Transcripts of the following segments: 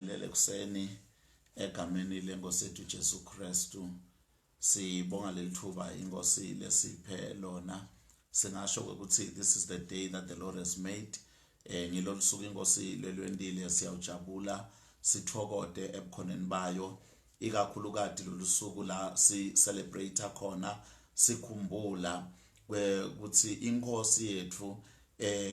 Lele kuseni egameni lenkosi yethu Jesu Kristu sibonga lelithuba inkosi lesiphe lona singasho ukuthi this is the day that the Lord has made eh ngilolusuku inkosi lelwendile siyawujabula sithokode ebukhoneni bayo ikakhulukati lolusuku la si celebrate khona sikhumbula ukuthi inkosi yethu eh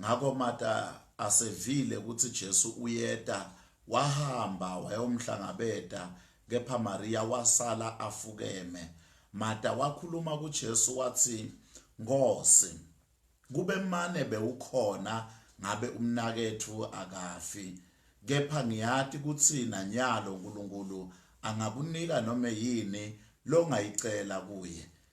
Ngakho Marta asevile ukuthi Jesu uyeta, wahamba wayomhlangabeta, kepha Mariya wasala afukeme. Marta wakhuluma kuJesu wathi, Nkosi, kube mane bewukhona ngabe umnaketfu akafi. Kepha ngiyati kutsi nanyalo Nkulunkulu angakunika nome yini longayicela kuye,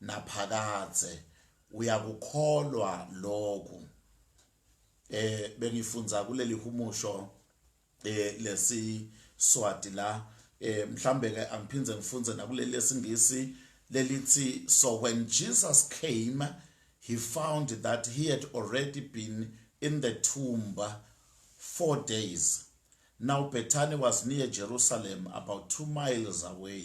naphakadze uyakukholwa lokhu eh bengifunza kuleli humusho eh lesi swati la eh mhlambe ke angiphinde ngifunze nakuleli lesingisi lelithi so when Jesus came he found that he had already been in the tomb 4 days now Bethany was near Jerusalem about 2 miles away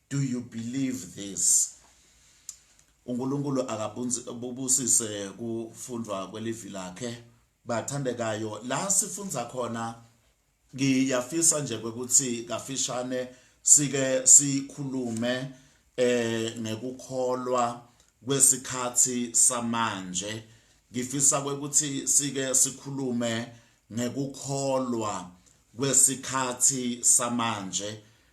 Do you believe this? uNkulunkulu akabusise kufundwa kwelivi lakhe bathandekayo la sifundza khona ngiyafisa nje ukuthi kafishane sike sikhulume eh ngekukholwa kwesikhathi samanje ngifisa ukuthi sike sikhulume ngekukholwa kwesikhathi samanje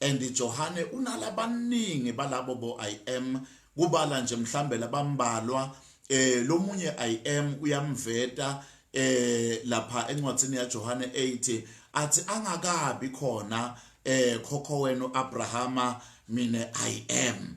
And Johane unala baningi balabo bo I am kubala nje mhlambe labambalwa eh lomunye I am uyamveta eh lapha encwadini ya Johane 8 athi angakabi khona eh khokho wenu Abrahama mina I am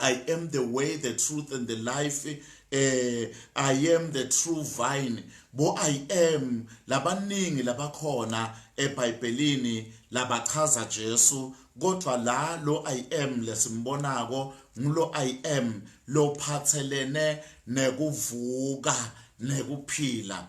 I am the way the truth and the life eh I am the true vine bo I am labaningi labakhona eBhayibhelini labachaza Jesu kodwa la lo I am lesimbonako ngulo I am lophathelene nekuvuka nekuphila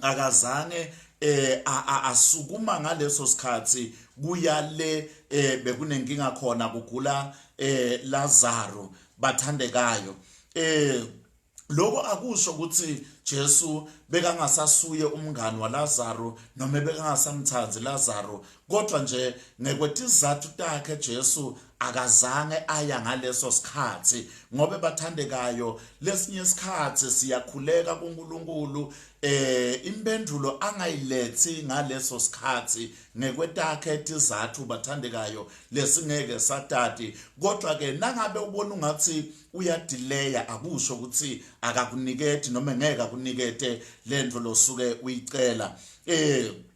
akazange eh asukuma ngaleso sikhathi kuyale eh bekunenkinga khona kugula eh Lazaro bathandekayo eh lokho akusho ukuthi Jesu bekangasasuye umngani waLazaro noma bekangasamthandi Lazaro Kodwa nje ngekwetizathu takhe Jesu akazange aya ngaleso sikhathi ngoba bathandekayo lesinye isikhathi siyakhuleka kuNkulunkulu eh impendulo angayilethi ngaleso sikhathi ngekwetakhe tizathu bathandekayo lesingeke satati kodwa ke nangabe ubona ungathi uyadileya akusho ukuthi akakuniketi noma ngeke akunikete lento losuke uyicela eh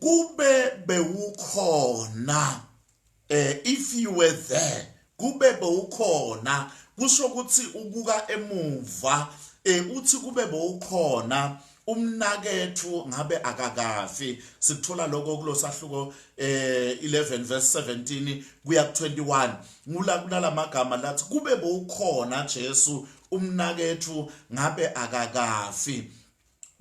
kube bewukhona eh if you were there kube bewukhona kusho ukuthi ubuka emuva eh uthi kube bewukhona umnakethu ngabe akakafi sikuthola lokho kulosahluko eh 11 verse 17 kuya ku 21 ngula kunalamagama lathi kube bowukhona Jesu umnakethu ngabe akakafi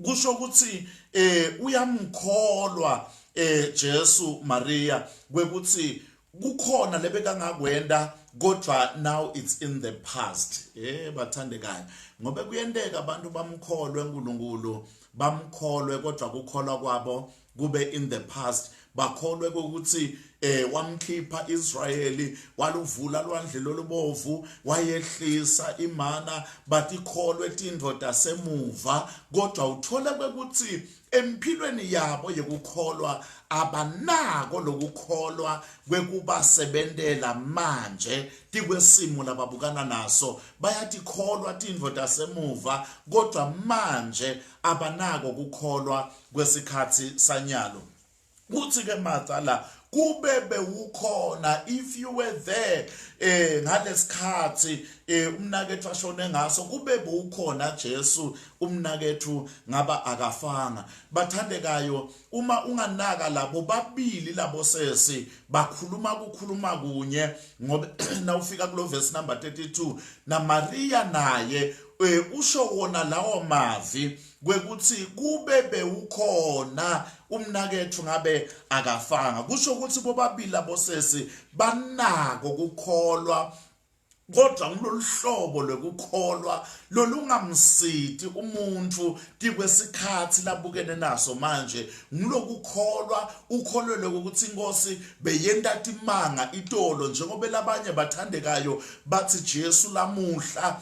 kusho ukuthi eh uyamkholwa eh Jesu Maria kwekuthi kukhona lebekangakwenda kodwa now it's in the past eh bathandekayo ngoba kuyenteka abantu bamkholwe uNkulunkulu bamkholwe kodwa kukholwa kwabo kube in the past bakholwe ukuthi eh wamkhipha Israyeli waluvula lwandle lolubovu wayehlisa imana batikholwe tindoda semuva kodwa uthole ukuthi emphilweni yabo yokukholwa abanako lokukholwa kwekubasebentela manje tikwesimo lababukana naso bayatikholwa tindvo tasemuva kodwa manje abanako kukholwa kwesikhathi sanyalo kuthi ke macala kube bewukhona if you were there eh ngalesikhathi eh umnakethu ashone ngaso kube bewukhona Jesu umnakethu ngaba akafanga bathandekayo uma unganaka labo babili labo sesi bakhuluma kukhuluma kunye ngoba nawufika kulo verse number 32 na Maria naye eh, usho wona lawo mavi kwekuthi kube bewukhona umnakethu ngabe akafanga kusho ukuthi bobabili abosesi banako kukholwa kodwa kuloluhlobo lokukholwa lolungamsidi umuntu kikwesikhathi labukene naso manje ngilokukholwa ukholelwe ukuthi inkosi beyenta timanga itolo njengoba labanye bathandekayo bathi Jesu lamuhla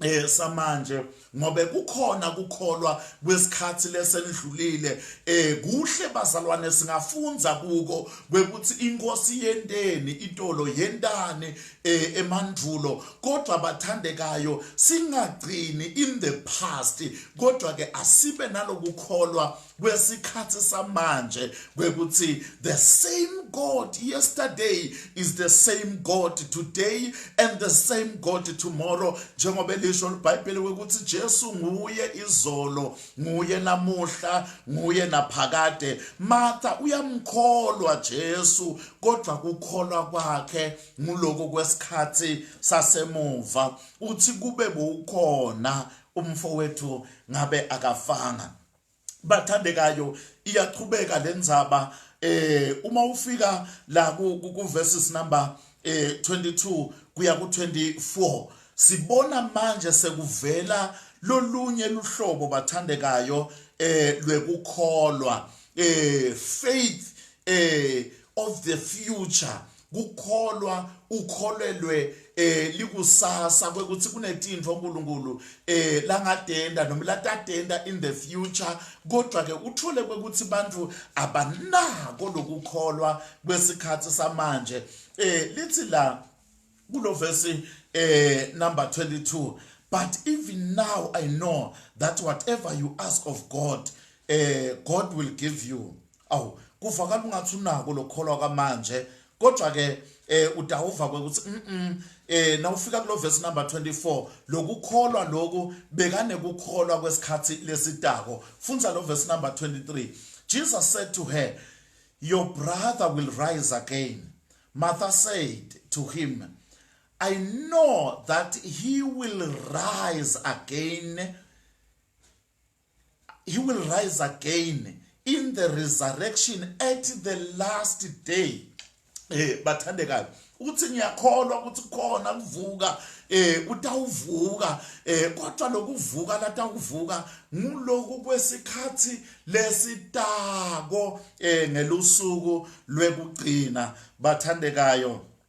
eh samanje ngobe kukhona kukholwa kwesikhathi lesenidlulile eh kuhle bazalwane singafunza kuko kwekuthi inkosi yenteni itolo yentani eh emandvulo kodwa bathandekayo singagcini in the past kodwa ke asibe nalokukholwa kwesikhathi samanje kwekuthi the same god yesterday is the same god today and the same god tomorrow njengoba elisho libhayibheli kwekuthi Jesu nguye izolo nguye namuhla nguye naphakade Martha uyamkholwa Jesu kodwa kukholwa kwakhe nguloko kwesikhathi sasemuva uthi kube bukhona umfowethu ngabe akafanga bathandekayo iyaqhubeka lenzaba eh uma ufika la ku verses number eh 22 kuya ku 24 sibona manje sekuvela lolunye luhlobo bathandekayo eh lwekukholwa eh faith eh of the future kukholwa ukholelwe eh likusasa kwekuthi kunetintfo uNkulunkulu eh langatenda noma latatenda in the future kodwa ke uthole kwekuthi abantu abanako lokukholwa kwesikhathi samanje eh lithi la kulo verse eh number 22 but even now i know that whatever you ask of god eh god will give you awu kuvakala ungathi unako lokholwa kwamanje kodwa ke eh udawuva ukuthi mhm eh nawufika kulo verse number 24 lokukholwa loku bekane kukholwa kwesikhathi lesitako fundza lo verse number 23 Jesus said to her your brother will rise again Martha said to him I know that he will rise again he will rise again in the resurrection at the last day eh bathandekayo uthi ngiyakholwa ukuthi khona kuvuka eh utawuvuka eh kodwa lokuvuka latawuvuka nguloku kwesikhathi lesitako eh ngelusuku lwekugcina bathandekayo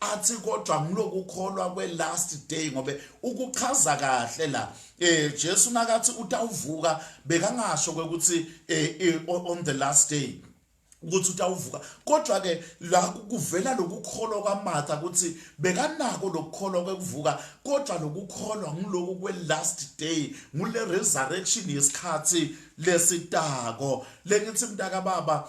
athi kodwa ngilokukholwa kwe last day ngobe ukuchaza kahle la eh Jesu nakathi utawuvuka bekangasho ukuthi eh, eh on the last day ukuthi utawuvuka kodwa ke la kuvela lokukholwa kwaMatha ukuthi bekanako lokukholwa kwekuvuka kodwa lokukholwa ngiloku kwe last day ngule resurrection yesikhathi lesitako lengithi mntaka baba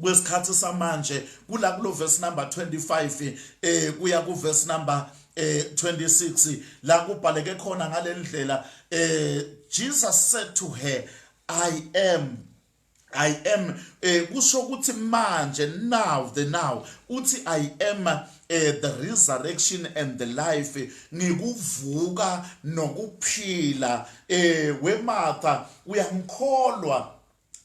kwesikhathi samanje kula kulo verse number 25 eh kuya ku verse number eh 26 la kubhaleke khona ngalendlela eh Jesus said to her I am I am eh kusho ukuthi manje now the now uthi I am eh the resurrection and the life ngikuvuka nokuphila eh wematha uyangikholwa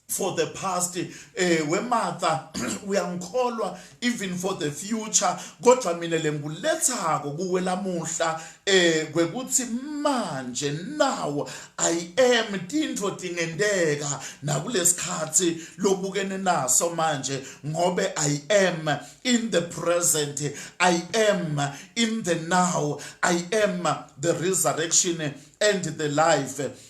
for the past eh wematha uyangikholwa even for the future kodwa mina lengulethako kuwe lamuhla eh kwekuthi manje now i am tintfo tingenteka nakulesikhathi lobukene naso manje ngobe i am in the present i am in the now i am the resurrection and the life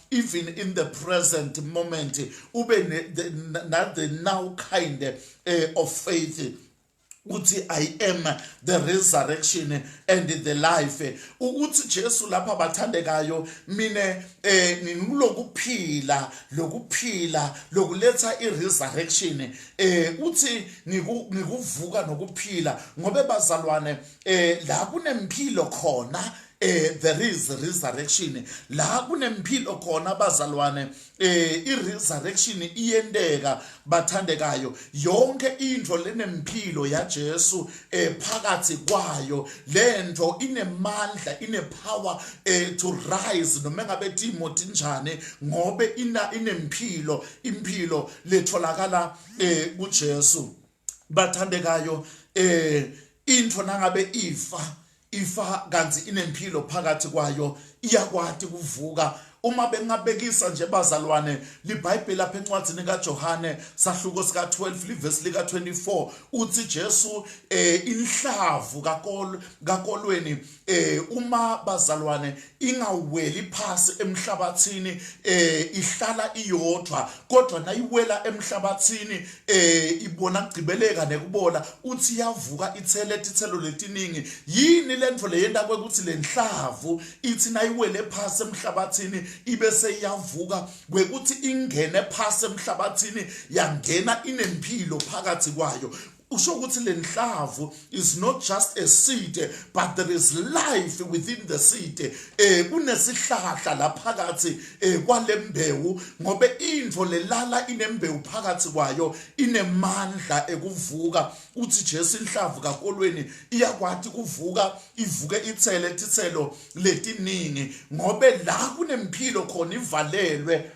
even in the present moment ube not the now kind eh, of faith ukuthi i am the resurrection and the life ukuthi Jesu lapha bathandekayo mina eh ngikulokuphila lokuphila lokuletha i resurrection eh uthi ngikuvuka nokuphila ngobe bazalwane eh la kunempilo khona eh there is resurrection la kunempilo khona bazalwane eh i resurrection iyenteka bathandekayo yonke into lenempilo ya Jesu eh phakathi kwayo lento inemandla ine power eh to rise noma ngabe Timothy njani ngobe ina inempilo impilo letholakala eh kuJesu bathandekayo eh into nangabe ifa ifa kanti inempilo phakathi kwayo iyakwati kuvuka uma bengabekisa nje bazalwane libhayibheli lapha encwadini kaJohane sahluko sika 12 livesi lika 24 uthi Jesu eh inhlavu kakol kakolweni eh uma bazalwane ingaweli phasi emhlabathini eh ihlala iyodwa kodwa nayiwela emhlabathini eh ibona kugcibeleka nekubola uthi iyavuka ithele ithelo letiningi yini lento leyenda kwekuthi lenhlavu ithi nayiwele phasi emhlabathini ibe seyavuka kwekuthi ingene phasi emhlabathini yangena inempilo phakathi kwayo kusho ukuthi le nhlavu is not just a seed but there is life within the seed eh kunesihlahla laphakathi eh kwalembewu ngobe into lelala inembewu phakathi kwayo inemandla ekuvuka uthi Jesu inhlavu kakolweni iyakwathi kuvuka ivuke ithele tithelo letiningi ngobe la kunempilo khona ivalelwe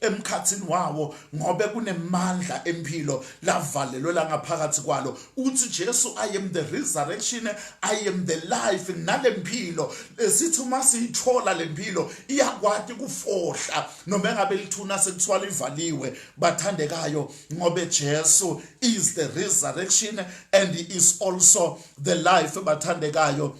emkhathini wawo ngobe kunemandla empilo lavalelwe la ngaphakathi kwalo uthi Jesu I am the resurrection I am the life nalempilo esithi uma siyithola lempilo iyakwati kufohla noma engabe lithuna sekuthiwa livaliwe bathandekayo ngobe Jesu is the resurrection and he is also the life bathandekayo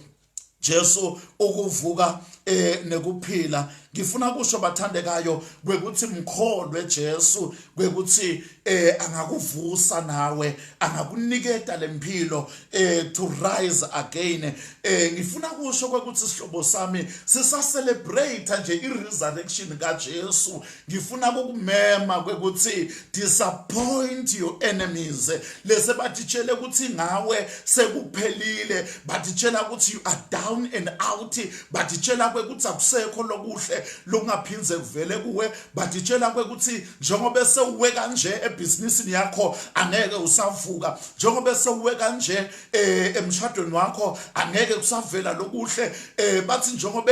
Jesu ukuvuka eh nekuphila ngifuna kusho bathandekayo kwekuthi mkholwe Jesu kwekuthi eh angakuvusa nawe angakuniketa lempilo eh to rise again eh ngifuna kusho kwekuthi sihlobo sami sisa celebrate nje i resurrection ka Jesu ngifuna kukumema kwekuthi disappoint your enemies lese batitshele ukuthi ngawe sekuphelile batitshela ukuthi you are down and out batitshela kwekuthi akusekho lokuhle lokungaphindze kuvele kuwe batitshela kwekuthi njengoba sewuwe kanje ebhizinisini yakho angeke usavuka njengoba sewuwe kanje eh, emshadweni wakho angeke kusavela lokuhle eh, bathi njengoba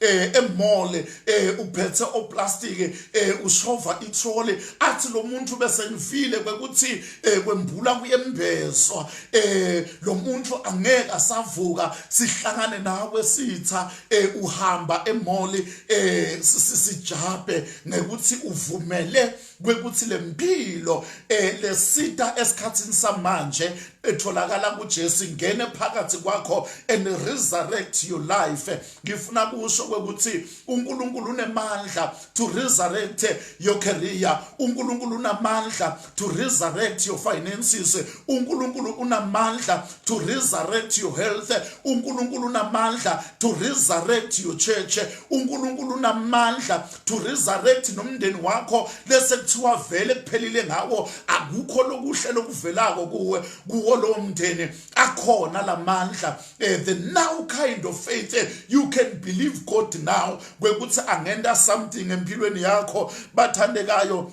eh emole eh uphethe oplastike eh ushova ithole athi lo muntu bese ngifile kwekuthi eh kwembula kuyembezwa eh lo muntu angeke asavuka sihlangane nawe sitha eh uhamba emole eh sisijabhe ngekuthi uvumele kwekuthi lempilo eh lesita esikhatsini samanje etholakala kuJesu ngene phakathi kwakho and resurrect your life ngifuna kusho kwekuthi uNkulunkulu unemandla to resurrect your career uNkulunkulu unamandla to resurrect your finances uNkulunkulu unamandla to resurrect your health uNkulunkulu unamandla to resurrect your church uNkulunkulu unamandla to resurrect nomndeni wakho lese kuthiwa vele kuphelile ngawo akukho lokuhle lokuvelako kuwe kuwo lo mndeni akhona lamandla Uh, the now kind of faith uh, you can believe god now kwekuthi angenta something empilweni yakho bathandekayo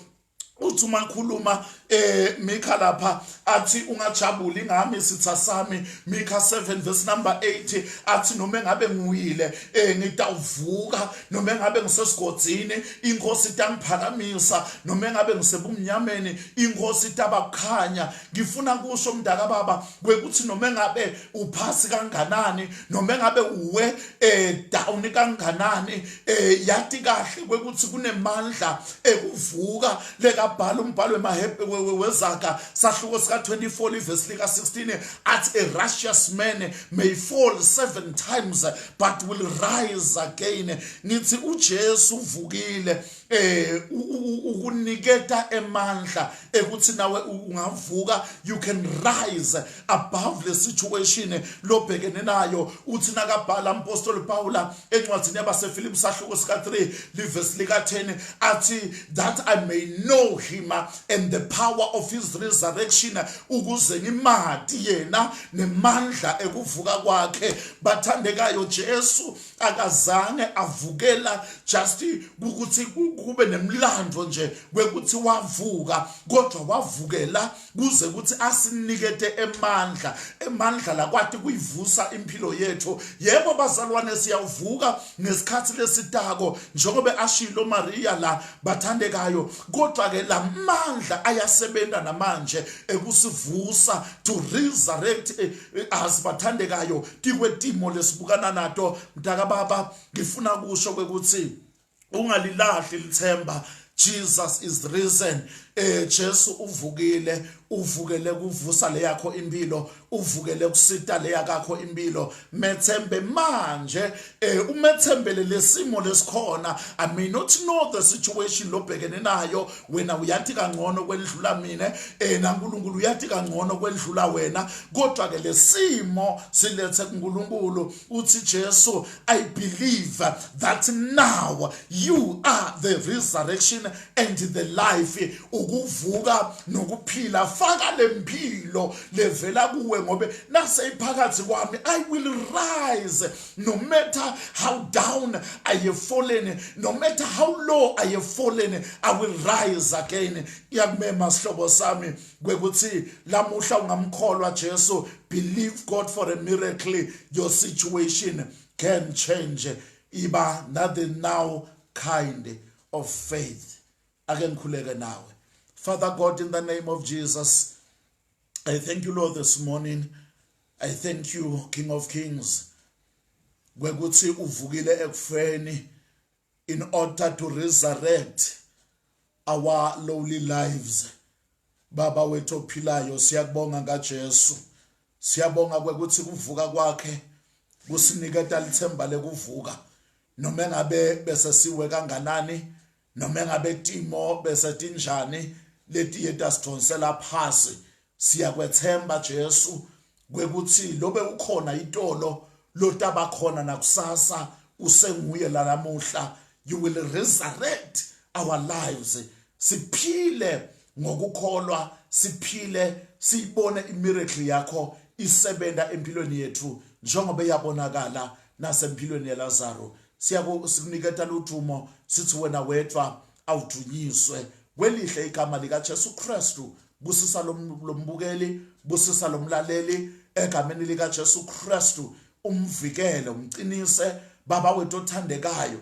uthi uma ngikhuluma eh Mikha lapha athi ungajabuli ngami sitha sami Mikha 7 verse number 8 athi noma ngabe nguyile eh ngitawuvuka noma ngabe ngisesigodzini inkosi itangiphakamisa noma ngabe ngisebumnyameni inkosi itabakukhanya ngifuna kusho mntaka baba kwekuthi noma ngabe uphasi kanganani noma engabe uwe eh down kanganani eh yati kahle kwekuthi kunemandla ekuvuka lekabhala umbhalo wezaka sahluko sika 24 livesi lika 16 athi a righteous man may fall seven times but will rise again ngithi uJesu uvukile eh ukuniketa emandla ekuthi nawe ungavuka you can rise above le situation lobhekene nayo uthi nakabhala umpostoli Paula encwadini yabaseFilipi sahluko sika 3 livesi lika 10 athi that I may know him and the power of his resurrection ukuze ngimadi yena nemandla ekuvuka kwakhe bathandekayo Jesu akazange avukela just ukuthi kube nemlando nje kwekuthi wavuka kodwa wavukela kuze ukuthi asinikete emandla emandla lakwati kuyivusa impilo yethu yebo bazalwane siyavuka ngesikhathi lesitako njengoba ashilo Maria la bathandekayo kodwa ke lamandla ayasebenza namanje ekusivusa to resurrect eh, eh, as bathandekayo tikwetimo lesibukana nato mtaka baba ngifuna kusho kwekutsi ungalilahli lithemba Jesus is risen eh Jesu uvukile uvukele kuvusa leyakho impilo uvukele kusita leyakho impilo methembe manje eh umethembele lesimo lesikhona i may not know the situation lobhekene nayo wena uyathi kangcono kwendlula mina eh naNkulunkulu uyathi kangcono kwendlula wena kodwa ke lesimo silethe kuNkulunkulu uthi Jesu i believe that now you are the resurrection and the life ukuvuka nokuphila faka lempilo levela kuwe ngobe nase iphakathi kwami i will rise no matter how down i have fallen no matter how low i have fallen i will rise again iyakumema sihlobo sami kwekuthi lamuhla ungamkholwa Jesu believe God for a miracle your situation can change iba nothing now kind of faith ake ngikhuleke nawe father god in the name of jesus i thank you lord this morning i thank you king of kings kwekuthi uvukile ekufeni in order to resurrect our lowly lives baba wethu ophilayo siyakubonga ngaJesu Siyabonga kwekuthi kuvuka kwakhe kusiniketa lithemba lekuvuka noma engabe bese siwe kanganani noma engabe timo bese tinjani letiye tasidonsela phasi siyakwethemba Jesu kwekuthi lobe ukhona itolo lotaba khona nakusasa usenguye lalamuhla you will resurrect our lives siphile ngokukholwa siphile siyibone imiracle yakho isebenza empilweni yethu njengoba eyabonakala nasempilweni yelazaro sikuniketa ludumo sithi wena wedwa awudunyiswe kwelihle igama likajesu kristu busisa lombukeli busisa lomlaleli egameni likajesu kristu umvikele umqinise baba wethu othandekayo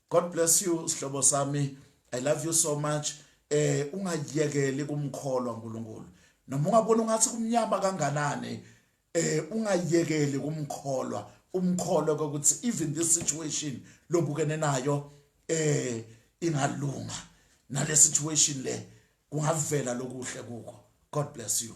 God bless you sihlobo sami I love you so much eh ungayekeli kumkholwa uNkulunkulu noma ungabona ungathi kumnyama kanganani eh ungayekeli kumkholwa umkholwa ukuthi even this situation lobukene nayo eh ingalunga nale situation le kungavela lokuhle kuko god bless you